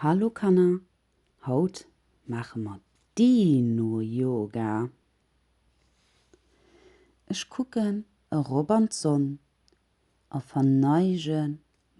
Hallo Kanner, haut maache mer Dino Yoga. Ech kucken erop an d'Sonn a verneige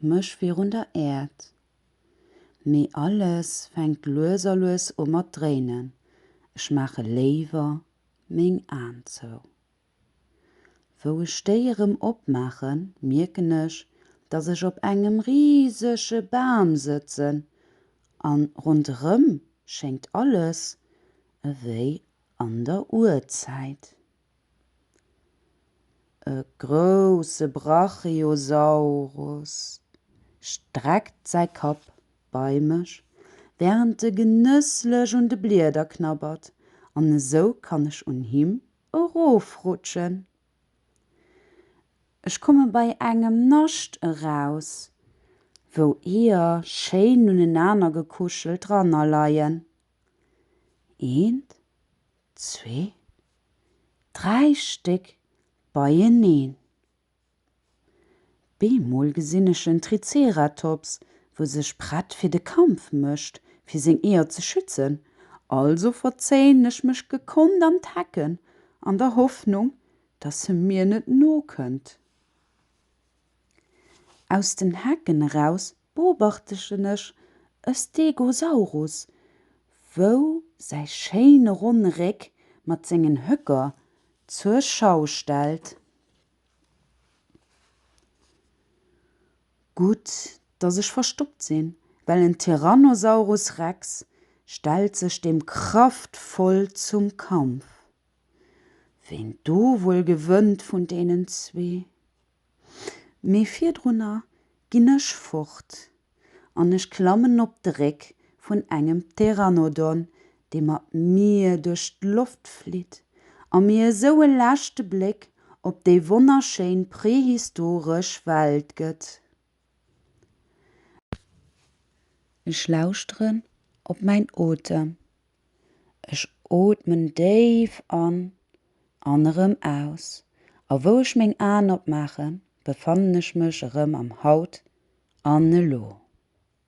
mech virun der Äerd. Mee alles fänkt lues a lues u mat dréinen, ech maache léiwer meng Aen zou. Wou ech déi erëm opmaachen, mierken ech, dass ech op engem risege Bam sëtzen an ronderëm schéngt alles ewéi an der Urzäit. E grousse Brachiosaurus streckt säi Kapp bei mech, wärend e genësslech un de Blieder knabbert, an esou kann ech un him erofrutschen. Ech komme bei engem Nascht eraus, wou Eeër schéin unenaner gekuschelt dranner leien. Eent, zwee, dräi Stéck beieneen. Bemol gesinn ech en Triceratops, wou sech prett fir de Kampf mécht, fir seng Eeër ze schützen. Also verzéien ech mech gekonnt an d'Hecken, an der Hoffnung, dass e mir net nokënnt. Aus den Hecken eraus beobachtegen ech e Stegosaurus, wou säi schéine ronne Réck mat sengen Höcker zur Schau stellt. Gutt, dass ech verstoppt sinn, well en Tyrannosaurus Rex stellt sech deem kraftvoll zum Kampf. Ween do wuel gewënnt vun deenen zwee? Mee virdrunner ginn ech fort an ech klammen op de Réck vun engem Pteranodon, dee mat mir duerch d'Loft flitt a mir esou e leschte Bléck op déi wonnerschéin prehistoresch Welt gëtt. Ech lauschteren op mäin Otem. Ech ootmen déif an an erëm aus. A wou ech meng Aen opmaachen, befannen ech mech erëm am Haut an Elo.